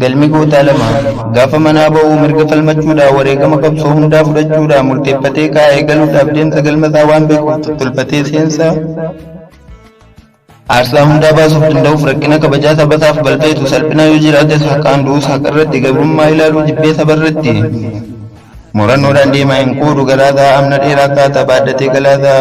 Galmi gootaa lama. Gaafa manaa ba'u mirga falmachuudhaan wareegama qabsoo hundaa fudhachuudhaan murteeffatee kaa'ee galuudhaaf deemsa galma isaa waan beekuuf tottolfatee seensa aarsaa hundaa baasuuf danda'uuf rakkina kabajaa saba isaaf balfeetu salphina yoo jiraates haqaan du'us haqa irratti gabrummaa ilaaluu jibbee saba irratti Murannoodhaan deemaa hin quudu galaagaa amna dheeraa kaataa baadhatee galaagaa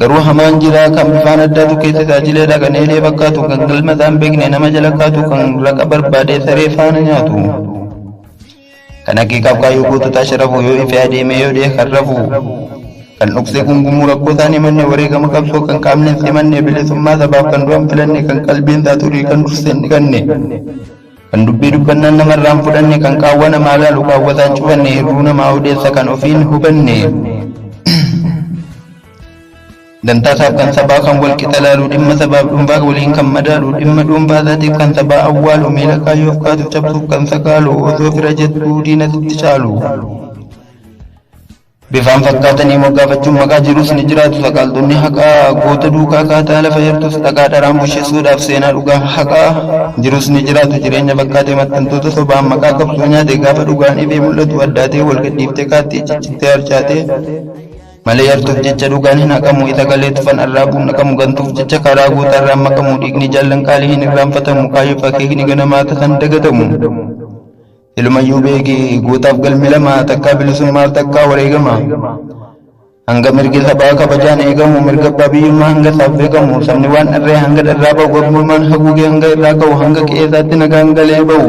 garuu hamaan jiraa kan bifaan addaatu kee tajaajileedha kan eelee fakkaatu kan galmataa hin beekne nama jala kaatu kan raqa barbaadee saree faana nyaatu kan haqiiqaaf kaayyoo goototaa sharafu yoo ife adeemee yoo dhee kan rafu kan dhoksee gungumuu rakkoo isaan himanne wareegama qabsoo kan qaamni hin simanne bilisummaa sabaaf kan du'an filanne kan qalbiin isaa xurii kan dursee hin dhiqanne. Kan dubbii dubbannaan nama irraa hin fudhanne, kan qaawwa namaa laalu kaawwataa hin cufanne, hirruu namaa odeessa kan ofii hin hubanne, dantaa isaaf kan sabaa kan wal qixa laalu, dhimma sabaaf dhuunfaa waliin kan madaalu, dhimma dhuunfaa isaatiif kan sabaa awwaalu, miila kaayyoof kaatuuf cabsuuf kan sakaalu, osoo fira jettuu diinatti caalu. Bifaan fakkaatanii moggaafachuun maqaa jiruus ni jiraatu. Saqaaltonni haqaa goota duukaa kaataa lafa yartuus dhaqaa dharaan busheessuudhaaf seenaa dhugaa haqaa jiruus ni jiraatu. Jireenya fakkaatee maxxantoota sobaan maqaa qabsoo nyaate gaafa dhugaan ifee mul'atu addaatee wal gadhiiftee kaattii ciccittee harcaatee malee yartuuf jecha dhugaan hin haqamu isa galee tufan arraabuun naqamu gantuuf jecha karaa goota irraan maqamu dhiigni jaallan qaalii hin irraanfatamu kaayoof akeekni ganamaa tasan dagatamu. Silumayyuu beeki gootaaf galmi lama takkaa bilisummaaf takkaa wareegama. Hanga mirgi sabaa kabajaan eegamu mirga abbaa biyyummaa hanga isaaf beekamu sabni waan dharree hanga dharraa ba'u gabrummaan haguugee hanga irraa ka'u hanga qe'ee isaatti nagaan galee ba'u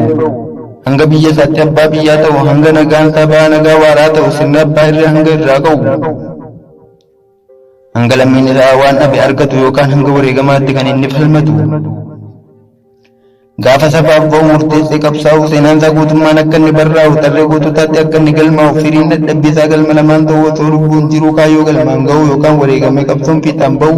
hanga biyya isaatti abbaa biyyaa ta'u hanga nagaan sabaa nagaa waaraa ta'u sirni abbaa irree hanga irraa ka'u. hanga lammiin irraa waan dhabe argatu yookaan hanga wareegamaatti kan inni falmatu gaafa sabaaf ba'u murteessee qabsaa'u seenaan isaa guutummaan akka inni barraa'u tarree goototaatti akka inni galmaa'u firiin dadhabbii isaa galma lamaan ta'uu osoo lubbuun jiruu kaayyoo galmaan ga'u yookaan wareegamee qabsoon fiixaan ba'u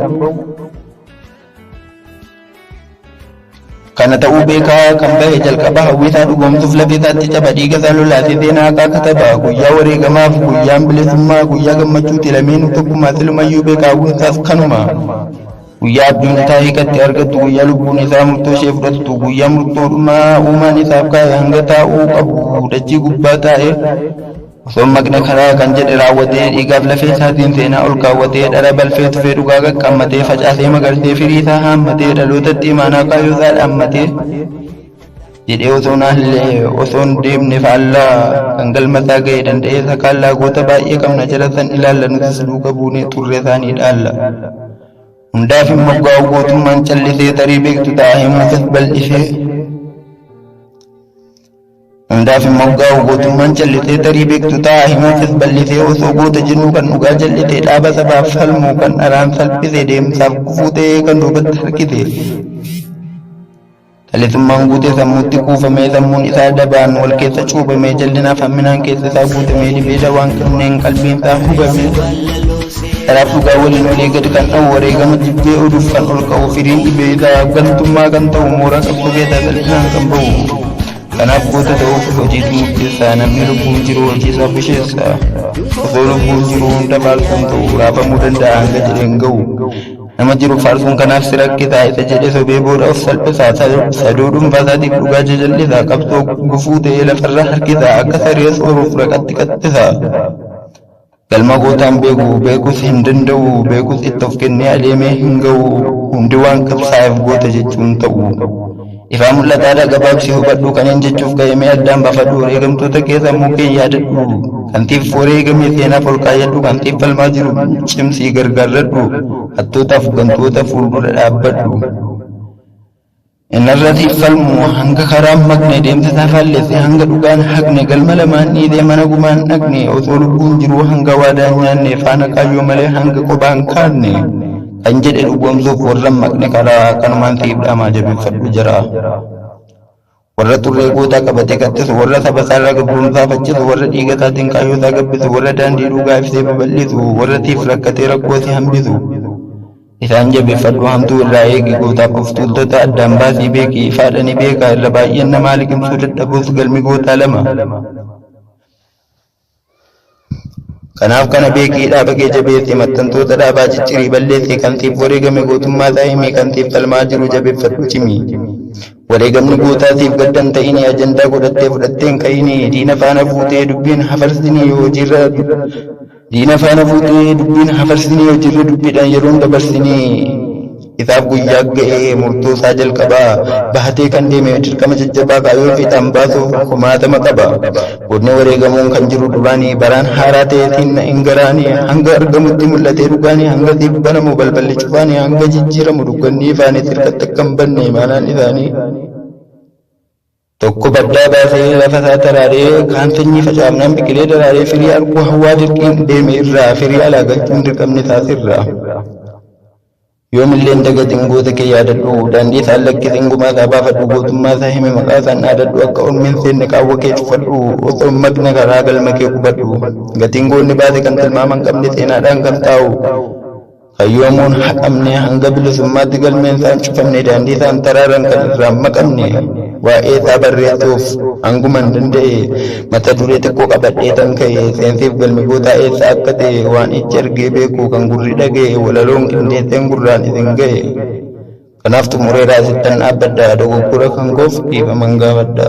Kana ta'uu beekaa kan bahe jalqaba hawwiisaa dhugoomsuuf lafeesaatti caba dhiigasaa lolaa fi seenaa haqaa kataba. Guyyaa wareegamaaf guyyaan bilisummaa guyyaa gammachuuti lameenuu tokkummaa silumayyuu beekaa hawwiinsaas kanuma. Guyyaa abjuun isaa hiikatti argattu guyyaa lubbuun isaa murtoo ishee fudhattu guyyaa murtoodhumaa uumaan isaaf kaa'e hanga taa'uu qabu dachii gubbaa taa'e Osoon maqne karaa kan jedhe raawwatee dhiigaaf lafee isaatiin seenaa ol kaawwatee dhara balfee tufee dhugaa qaqqammatee facaasee magarsee firii isaa haammatee dhalootatti imaanaa kaayoo isaa dhaammatee jedhee osoon haallee osoon deemne faallaa kan galma isaa ga'e danda'ee isa kaallaa goota baay'ee qabna jala san ilaalla nutis duuka buunee xurree isaanii dhaalla. Hundaaf hin moggaa'u gootummaan callisee tarii beektu ta'a himuutas bal'isee. Hundaaf hin moggaa'u gootummaan callitee tarii beektu ta'a himuufis ballisee osoo goota jennuu kan dhugaa callitee dhaaba sabaaf falmuu kan dharaan salphise deemsaaf gufuu ta'ee kan duubatti harkise. Callisummaan guutee sammuutti kuufamee sammuun isaa dabaan wal keessa cuubamee jallinaaf hamminaan keessa isaa guutamee libee dawaan kanneen qalbiin isaa hubamee. Kanaaf dhugaa waliin olee gad kan dha'u wareegama jibbee oduuf kan ol ka'u firiin dhibee isaaf gantummaa kan ta'u mooraa qabsoo keessaa salphinaan kan bahu. Kanaaf goota ta'uuf hojiitu murteessa namni lubbuun jiru hojii isaa busheessa. Osoo lubbuun jiru hunda faarsuun ta'u raafamuu danda'a hanga jedheen ga'u. Nama jiru faarsuun kanaaf si rakkisaa isa jedhe sobee booda of salphisaa saduu dhuunfaa isaatiif dhugaa jajallisaa qabsoo gufuu ta'ee lafarra harkisaa akka saree sooruuf raqatti qaxxisaa. Galma gootaan beeku beekus hin danda'u beekus itti of kennee adeemee hin ga'u hundi waan qabsaa'eef goota jechuun ta'u. Ifaa mul'ataadha gabaabsii hubadhu kaneen jechuuf ka'eemee addaan bafadhu wareegamtoota kee sammuu kee yaadadhu kan siif wareegamee seenaaf ol kaayyadhu kan siif falmaa jiru cimsii gargaarradhu hattootaaf gantoota fuuldura dhaabbadhu. Inarratti falmuu hanga karaan maqne deemte taafaalleesse hanga dhugaan haqne galma lamaan dhiitee mana gumaan dhaqne osoo lubbuun jiruu hanga waadaan nyaanne faana kaayyoo malee hanga qobaan kaanne kan jedhe dhugoomsuuf warra maqne karaa kanumaan siif dhaamaa jabeeffadhu jira. warra xurree gootaa qabatee kattisu warra saba isaarraa gabroomsaa faccisu warra dhiiga isaatiin kaayyoo isaa gabbisu warra daandii dhugaa ibsee babal'isu warra siif rakkatee rakkoo si hambisu Isaan jabeeffadhu hamtuu irraa eegi gootaaf of tuultota addaan baasii beeki ifaadha ni beeka irra baay'een namaa liqimsuu dadhabuus galmi gootaa lama kanaaf kana beekii dhaaba kee jabeessi maxxantoota dhaabaa ciccirii balleessi kan siif wareegame gootummaa isaa himii kan siif falmaa jiru jabeeffadhu cimi wareegamni gootaa siif gaddan ta'inii ajandaa godhattee fudhatteen ka'inii diina faana fuutee dubbiin hafarsinii yoo hojiirra Diina faana fuutee dubbiin hafarsinii hojiirra dubbiidhaan yeroon dabarsinii isaaf guyyaa ga'ee murtoo isaa jalqabaa bahatee kan deeme dirqama jajjabaa kaayoo fiixaan baasuuf kumaatama qaba. Godni wareegamuun kan jiru duraanii baraan haaraa ta'eetiin hin garaanii hanga argamutti mul'atee dhugaanii hanga siif banamu balballi cufaanii hanga jijjiiramu dukkanni ifaanii sirkatti akka hin banne imaanaan isaanii. Tokko baddaa baasee lafa isaa taraaree kaan sanyii facaafnaan biqilee daraaree firii arguu hawwaa dirqiin deeme irraa firii alaa galchuu hin dirqamne taas irraa. Yoomillee hin dagatin goota kee yaadadhu daandii isaan lakkisin gumaa isaa baafadhu gootummaa isaa himi maqaa isaan dhaadadhu akka ormi hin seenne qaawwa kee cufadhu osoo hin maqne karaa galma kee qubadhu gatiin goonni baase kan tilmaama hin qabne seenaadhaan kan taa'u Kan yoomuun haqamne hanga bilisummaatti galmeen isaa hin cufamne daandii isaa hin taraaran kan irraa hin maqamne waa'ee isaa barreessuuf hanguma hin danda'e mata duree xiqqoo qabadhee tan ka'e seensiif galmi gootaa eessa akka ta'e waan ijji argee beeku kan gurri dhaga'e walaloon qindeesseen gurraan isin ga'e. Kanaaf xumureeraa sittan dhaabbadha dogoggora kan koof dhiifaman gaafadha.